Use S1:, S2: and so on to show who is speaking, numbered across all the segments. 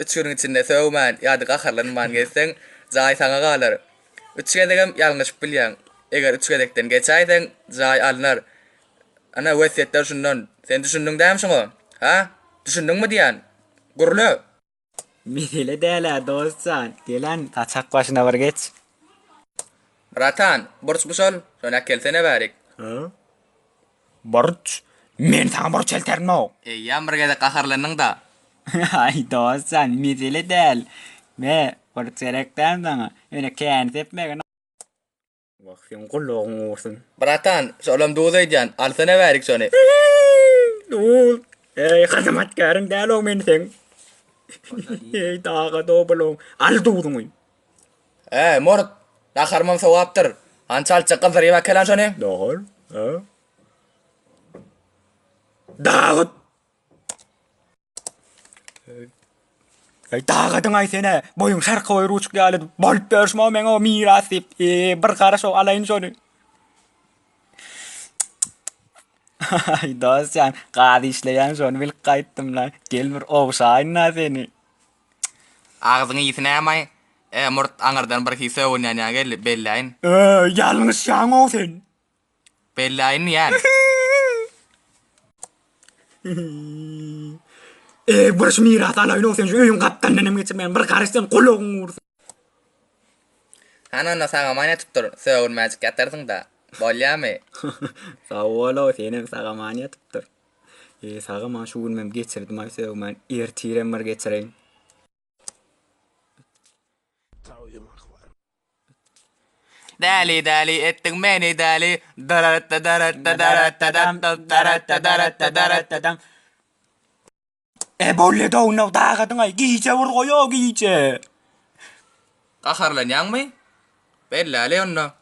S1: Üç günüň içinde sögmän ýa-da gaharlanman gezseň, jaý saňa galar. Üç gezegem ýalňyşyp bilýäň. Eger üç gezekden geçäýseň, jaý alnar. Ana, wesýetler şundan. Sen düşündiň dämi şuňa? Ha? Düşündiňmi diýýän? Gürle!
S2: Mesele däl-ä, dost jan. Gelen, saçak başyna bir geç.
S1: Bratan, burçmy şol? Şony äkelsene bärik. Hä?
S2: Borç? Men saňa borç elternok! Eýýäm bir gezek
S1: gaharlandyň-da. Aý,
S2: dost jan, mesele däl. Be, borç gerek däl saňa. Ýöne käni sepmegin. Wah, seň gulagyň ursun. Bratan, şolam
S1: duz öýdýän, alsana bärik şony. Eý,
S2: duz! Eý, hyzmatkäriň däl-ow men seň. Eý, daga-dow boluň. Al duzuňy. Äý,
S1: murt, naharymam sowapdyr. Han çaltja gyzdyryp äkelen şony. Nahar? Hä?
S2: Dagyt! Äý, dagydyň-aý sen-ä! Boýuň şarkawaý ruçka ýaly bolup ýörşüm-ow meň o miras diýip. Eý, bir garaş-ow alaýyn şony. Aý, dost jan, gaty işleýän şony bilip gaýtdym-la. Gel bir ogşaýyn-la seni.
S1: Agzyň iýsi nämaý? E, murt, aňyrdan bir hisse öwünýänýaň geldi, belläýin. E, ýalňyşýaň-ow
S2: sen. Belläýin
S1: diýýän.
S2: E, bir şu mirasy alaýyn-ow sen, şu öýüň gapdalyndan hem geçirmäýin, bir garyş sen gulagyň gursyn. Hany
S1: onda sagaman ýatyp dur, sögünmäjik ýatarsyň-da. Bolýamy? Sag
S2: bol-ow, senem sagaman ýatyp dur. Eee saga man şu gün men geçirdim ay söýgi man ertirem bir geçireýin.
S1: Däli däli etdiň meni däli daratta daratta daratta dam dam daratta daratta daratta dam Ebu
S2: Ledownyň dagadyňaý, gije bir goýa, gije! Gaharlanýaňmy?
S1: Belläle onda!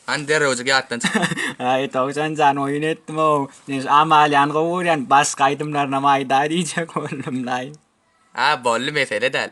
S1: Hany derrewjik ýatdan çyk! Aý, Towşan
S2: jan, oýun etdim-ow. Men şu Amaliýany gowy görýän, başga aýdymlarynam aýdaý diýjek boldum-laý. A, boldy,
S1: mesele däl.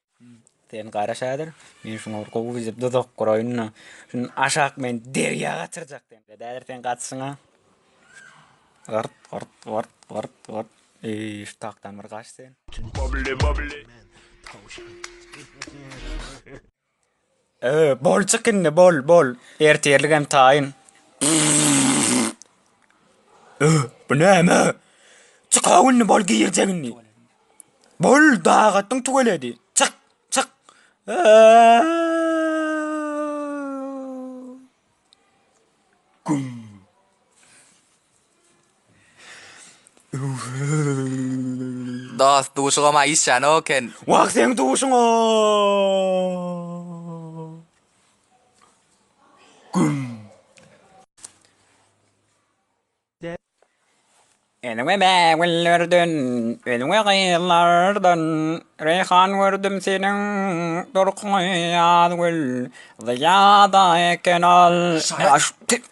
S2: Sen gara çadyr, men şuňa bir gowy gidip duzak guraýyn-da, şundan aşak meni derýa gaçyrjak sen. Bedadir seň gaçyşyňa. Gyrt, gyrt, gyrt, gyrt, gyrt. Eý, şu takdan bir gaç sen. Öö, bol çyk indi, bol, bol. Ertirligem taýyn. Öö, bu näme? Çyk-aw indi, bol girjek indi. Bol, dag atdyň tüweledi. Çyk, çyk. Öö. Güm.
S1: Dost duşugama işjänok eken. Wah seň duşuňa.
S2: Güm. Elime bäh güllerdin, özüňe gyzlardyn, Reýhan gördüm seniň durkuňy ýaz gül, Zyýada eken ol. Şaýat.